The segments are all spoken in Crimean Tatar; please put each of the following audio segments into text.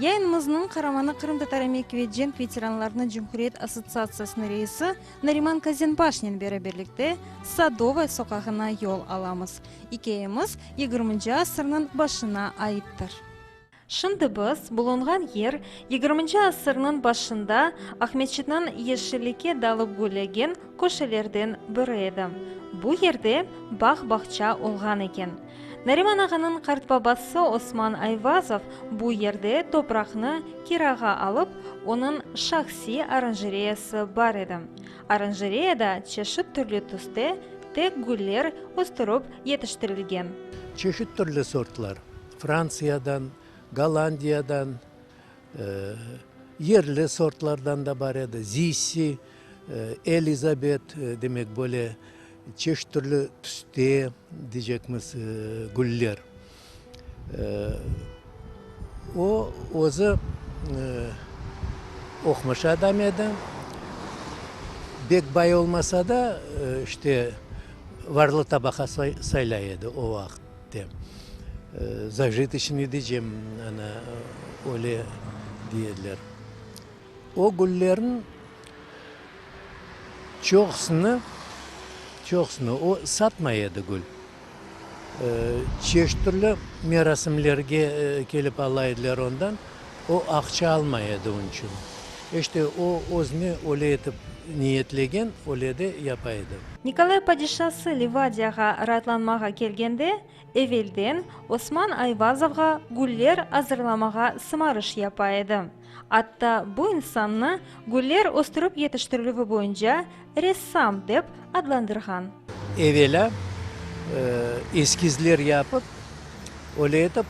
Yayınımıznıñ qaramanı qırımtatar emek ve cenk veteranlarınıñ cumhuriyet assotsiatsiyasınıñ reisi Nariman Kazenbaşnen bere birlikte Sadova soqağına yol alamız. İkâyemiz yigirminci asırnıñ başına aittir. Şimdi biz bulunğan yer yigirminci asırnıñ başında Aqmescitniñ yeşillikke dalıp güllegen köşelerden biri edi. Bu yerde bağ-bağça olğan eken. Nariman ağanıñ qartbabası Osman Ayvazov bu yerde topraqnı kirağa alıp, onıñ şahsiy oranjereyası bar edi. Oranjereyada çeşit türlü tüste tek güller östürip yetiştirilgen. Çeşit türlü sortlar, Frantsiyadan, Gollandiyadan, yerli sortlardan da bar edi, Zissi, Elizabet, demek böyle Çeşit türlü tüste, diycekmiz, güller. O, özü oqmuş adam edi. Bek bay olmasa da, işte, varlı tabaqa saylay edi o vaqıt. Zajitışnıy diycem, ana, öyle diye ediler. O güllerniñ çoqusını, çoqusını o satmay edi, gül. Çeşit türlü merasimlerge kelip ala ediler ondan, o aqça almay edi onıñ içün. İşte o özüni öyle etip niyetlegen, öyle de yapa edi. Nikolay padişası Livadiyağa raatlanmağa kelgende, evelden Osman Ayvazovğa güller azırlamağa sımarış yapa edi. Atta bu insannı güller östürip yetiştirilüvi boyunca ressam dep adlandırğan. Evelâ eskizler yapıp, öyle etip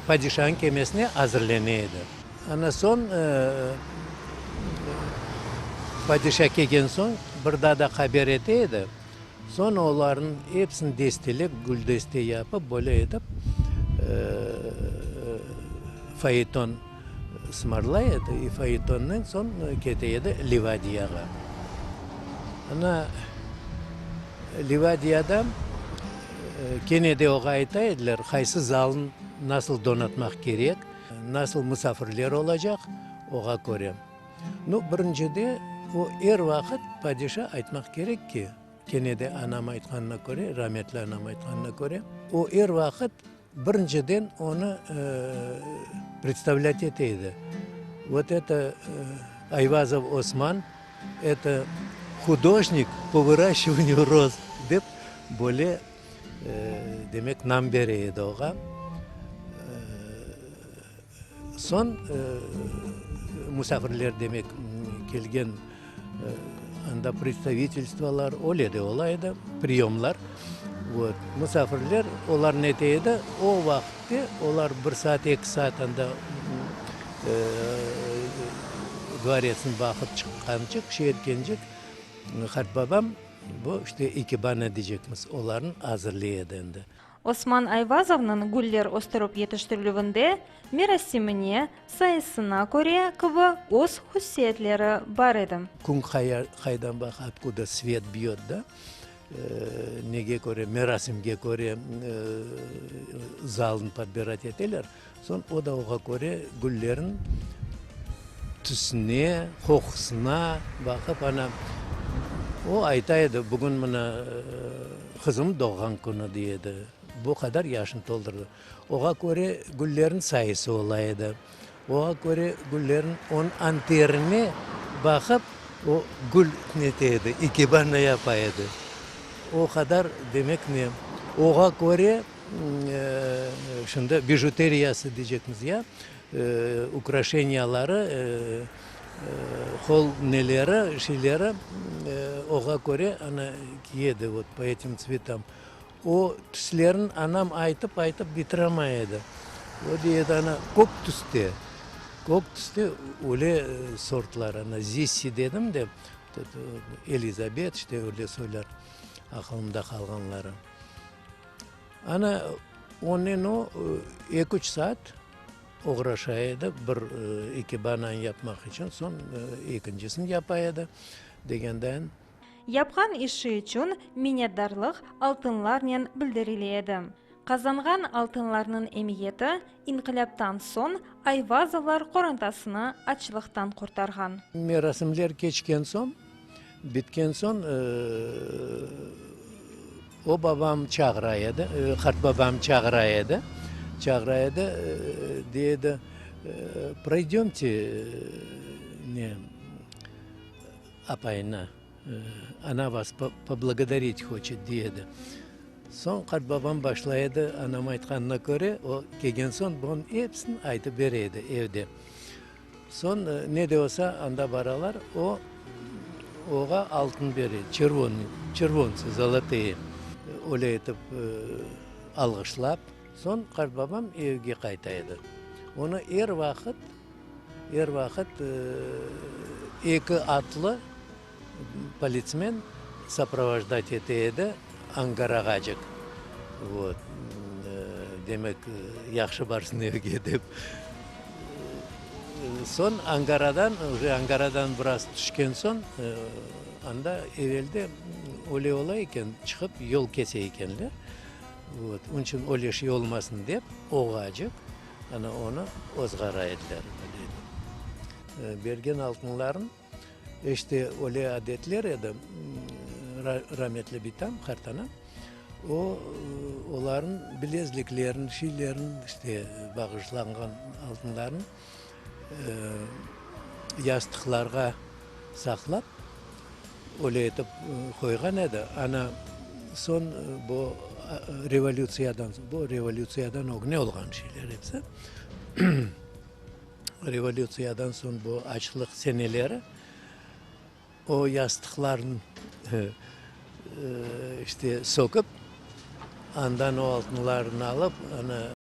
padişanıñ kemesine azırlene edi. Ana soñ padişa kelgen soñ bir daa da haber ete edi. Soñ olarnıñ epsini destelep, güldeste yapıp, böyle etip fayeton. Smorlay edi, i faytonnen soñ kete edi Livadiyağa. Ana, Livadiyada kene de oña ayta ediler, qaysı zalnı nasıl donatmaq kerek, nasıl musafirler olacaq, oña köre. Nu, birinci de, o, er vaqıt padişa aytmaq kerek ki, kene de anam aytqanına köre, rametli anam aytqanına köre, o, er vaqıt Birinciden, onı predstavlât ete edi, vot eto Ayvazov Osman, eto hudojnik po vıraşçıvanyu roz, dep böyle, demek, nam bere edi oğa. Soñ musafirler demek kelgen, anda predstavitelstvolar, öyle de ola edi, priyomlar. Vot, musafirler, olar nete edi, o vaqıtte olar bir saat, eki saat anda dvoretsni baqıp çıqqançıq, şey etkençik, qartbabam, bu işte ikebana deycekmiz, olarnı azırlay edi endi. Osman Ayvazovnıñ güller östürip yetiştirilüvinde merasimine, sayısına köre kibi öz hussiyetleri bar edi. Kün qaydan baq, otkuda svet biyöt da, nege köre, merasimge köre zalnı podbirat eteler. Soñ o da oğa köre güllerniñ tüsüne, qoqusına baqıp, ana, o ayta edi, bugün mına qızım doğğan künü, dey edi, bu qadar yaşını toldurdı. Oğa köre güllerniñ sayısı ola edi. Oğa köre güllerniñ onıñ anterine baqıp, o gül nete edi, ikibarnı yapa edi. O qadar, demek ne, oğa köre. Şimdi bijuteriyası diycekmiz ya, ukraşeniyaları, qol neleri, şeyleri oğa köre ana kiye edi, vot po etim tsvetam. O tüslerini anam aytıp-aytıp bitiremay edi. O dey edi, ana, kök tüste, kök tüste öyle sortlar, ana, zissi dedim de, Elizabet, işte öyle soylar, aqılımda qalğanları. Ana, onnen o, eki-üç saat oğraşa edi, bir ikebananı yapmaq içün, soñ ekincisini yapa edi, degendayin. Yapqan işi içün minnetdarlıq altınlarnen bildirile edi. Qazanğan altınlarnıñ emiyeti İnqilâptan soñ Ayvazovlar qorantasını açlıqtan qurtarğan. Merasimler keçken soñ, bitken soñ, o babam çağıra edi, qartbabam çağıra edi, çağıra edi, dey edi, Proydömte, ne, apayına. Ana vas poblagodarit hoçet, dey edi. Soñ qartbabam başlay edi, anam aytqanına köre, o kelgen soñ bunıñ episini aytıp bere edi evde. Soñ ne de olsa anda baralar, o oğa altın bere, çervonıy, çervontsıy, zolotoye. Öyle etip alğışlap, soñ qartbabam evge qayta edi. Onı er vaqıt Er vaqıt eki atlı politsmen saprovojdat ete edi, angarağacık, vot. Demek, yahşı barsın evge dep. Soñ angaradan, uje angaradan biraz tüşken soñ, anda evelde öyle ola eken, çıqıp yol kese ekenler. Vot. Onıñ içün öyle şey olmasın dep, oğacık. Ana onı ozğara ediler, ına deydi. Bergen altınların işte öyle adetler edi, rametli bitam, qartanam, o, oların bilezliklerin, şeylerin, işte bağışlanğan altınların yastıqlarğa saqlap, Öyle etip qoyğan edi, ana soñ bu revolütsiyadan, bu revolütsiyadan ögne olğan şeyler hepsi. Revolütsiyadan soñ bu açlıq seneleri o yastıqlarnı işte söküp, andan o altınlarnı alıp, ana,